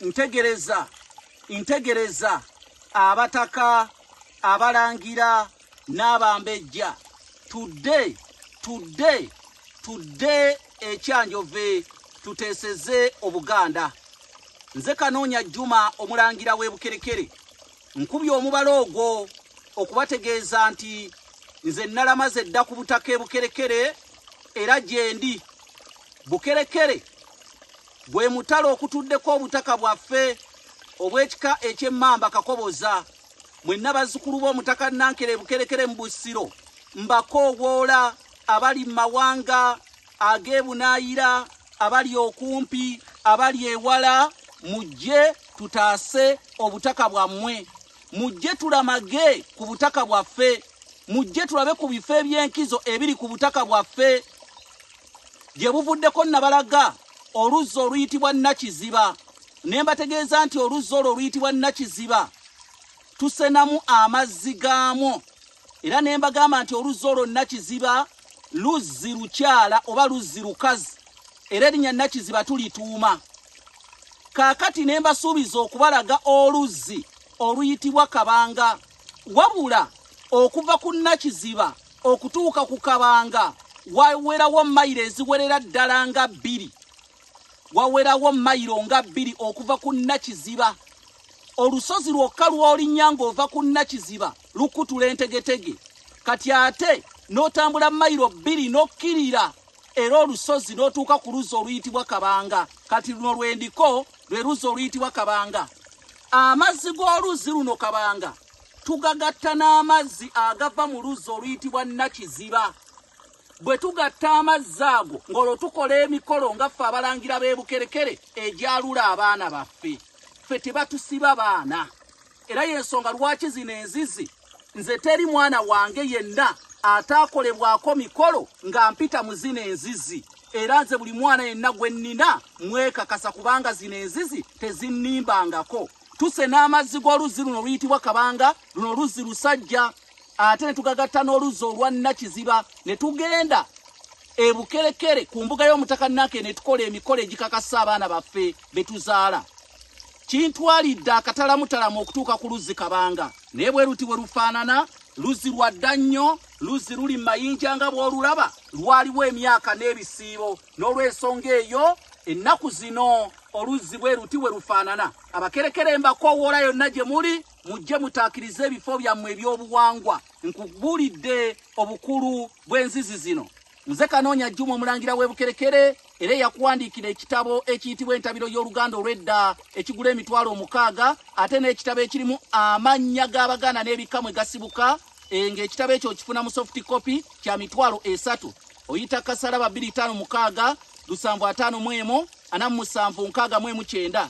ntegereza ntegereza abataka abalangira n'abambejja tudde tudde tudde ekyanjove tuteeseze obuganda nze kanoonya jjuma omulangira w'ebukerekere nkubye omubala ogwo okubategeeza nti nze nalamaze dda ku butaka ebukerekere era gyendi bukerekere Gwe mutalo okutuddeko obutaka bwaffe obw'ekika eky'emmamba kakoboza mwenna bazzukulu b'omutaka Nankere Bukerekere mu Busiro mbakoowoola abali mu mawanga ag'ebunaayira abali okumpi abali ewala mujje tutaase obutaka bwammwe. mujje tulamage ku butaka bwaffe mujje tulabe ku bifo eby'enkizo ebiri ku butaka bwaffe gye buvuddeko nabalaga oluzzi oluyitibwa nakiziba ne mbategeeza nti oluzzi olwo oluyitibwa nakiziba tusenamu amazzi gaamwo Era ne mbagamba nti oluzzi olwo Nakiziba luzzi lukyala oba luzzi lukazi, era erinnya Nakiziba tulituuma. Kaakati ne mbasuubiza okubalaga oluzzi oluyitibwa Kabanga. Wabula okuva ku Nakiziba okutuuka ku Kabanga wawerawo mayiro eziwerera ddala nga bbiri. Wawerawo mayiro nga bbiri okuva ku Nakiziba. Olusozi lwokka lw'olinnya ng'ova ku Nakiziba. lukutula entegetege kati ate n'otambula mayiro bbiri n'okkirira era olusozi n'otuuka ku luzzi oluyitibwa kabanga kati luno lwendiko lwe luzzi oluyitibwa kabanga amazzi g'oluzzi luno kabanga tugagatta n'amazzi agava mu luzzi oluyitibwa nakiziba bwe tugatta amazzi ago ng'olwo tukola emikolo nga ffe abalangira b'ebukerekere egyalula abaana baffe ffe tebatusiba baana era yensonga lwaki zino enzizi nze teri mwana wange yenna ataakolebwako mikolo nga mpita mu zino enzizi era nze buli mwana yenna gwe nnina mwekakasa kubanga zino enzizi tezinnimbangako tuse n'amazzi g'oluzzi luno luyitibwa kabanga luno luzzi lusajja ate ne tugagatta n'oluzzi olwa nnakiziba ne tugenda ebukerekere ku mbuga y'omutaka nake ne tukola emikolo egikakasa abaana baffe be tuzaala kintwalidde akatalamutalamu okutuuka ku luzzi kabanga naye bwe luti bwe lufaanana luzzi lwa dda nnyo luzzi luli mu mayinja nga bw'olulaba lwaliwo emyaka n'ebisiibo n'olw'ensonga eyo ennaku zino oluzzi bwe luti bwe lufaanana abakerekera embakowoola yonna gye muli mujje mutaakirize ebifo byammwe eby'obuwangwa nkubuulidde obukulu bw'enzizi zino Nze Kanoonya Juma omulangira w'e Bukerekere era eyakuwandiikira ekitabo ekiyitibwa entabiro y'oluganda olw'edda ekigula emitwalo omukaaga ate n'ekitabo ekirimu amannya g'Abaganda n'ebikka mwe gasibuka eh, ng'ekitabo ekyo okifuna mu soft copy kya mitwalo esatu oyita kasala babiri ttaano mukaaga lusanvu ataano mu emu ana mu musanvu nkaaga mu emu kyenda